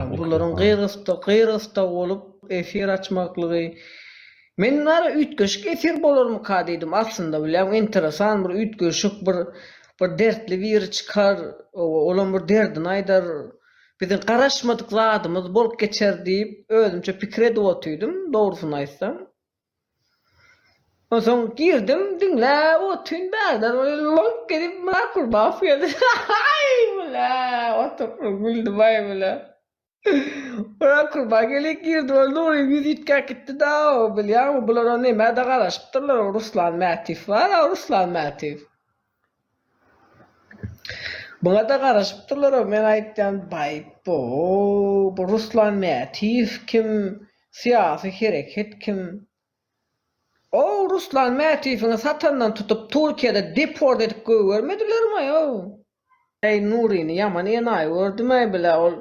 Bularyň gyrgysda gyrgysda bolup efir açmaklygy Men bari üýtgeşik efir bolarmyka diýdim aslynda bilýäň enteresan bir üýtgeşik bir bir dertli biri çykar olam bir derdini aýdar biziň garaşmadyk zadymyz bolup geçer diýip özümçe pikir edip otydym dogrusyny aýtsam. Onsoň girdim diňläp otyryn bärde lolop gelip Myrat Gulbakow geldi haý bile oturyp bir güldüm aý bile Myrat Gulbakow gelip girdi ol Nuryň ýüzi üýtgäp gitdi daw bilýäňmi bulara nämä-de garaşypdyrlar o Ruslan Mätiw bar a Ruslan Mätiw Muňada garaşypdyrlar-ow meň aýtýan Baýpo, bu Ruslan Mätiýew kim, syýasy hereket kim? Ow Ruslan Mätiýewiňi satandan tutup Turkiýada deport edip gögermedilermaý-ow? Äý Nuryny ýaman enaýy gördümäý bilä ol.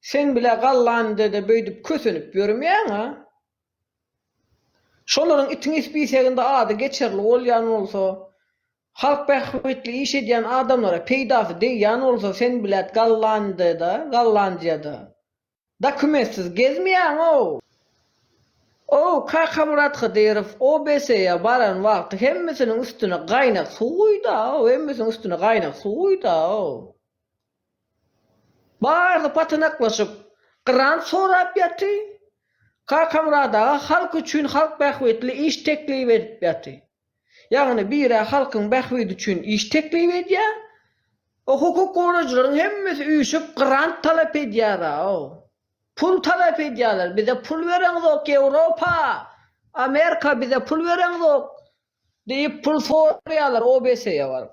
Sen bile gallanydede beydip kösenip yörmeyaň a. Şolaryň itiň ispiseginde ady geçerli bolyan bolsa, halk bähbitli iş edyan adamlara peydasy degyan bolsa sen bilet gallanydede, gallanjyada dokumentsiz gezmeyaň ow. Ow Kakamyrat Hydyrow OBSE-ya baran wagty hemmesiniň üstüne gaynak suw guyda ow, hemmesiniň üstüne gaynak suw guyda ow. Barsy patanaklaşyp, grant sorap ýaty. Kakamyrat aga halk üçin halk bähbitli iş teklip edip ýaty. Ýagny birä halkyň bähbidi üçin iş teklip edýä. O hukuk gorajylaryň hemmesi üýşüp grant talap edýära-ow. Pul talap edýäler, bize pul bereňzok, Ýewropa, Amerika bize pul bereňzok diýip pul soraýalar OBSE-ýe baryp.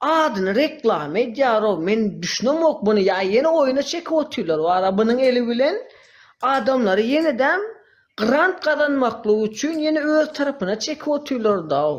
Adyny reklama edýarow men düşünemok muny ýa ýene oýuna çekip otyrlar wara bunuň eli bilen adamlary ýenedem grant gazanmaklyk üçin ýene öz tarapyna çekip otyrlardaw.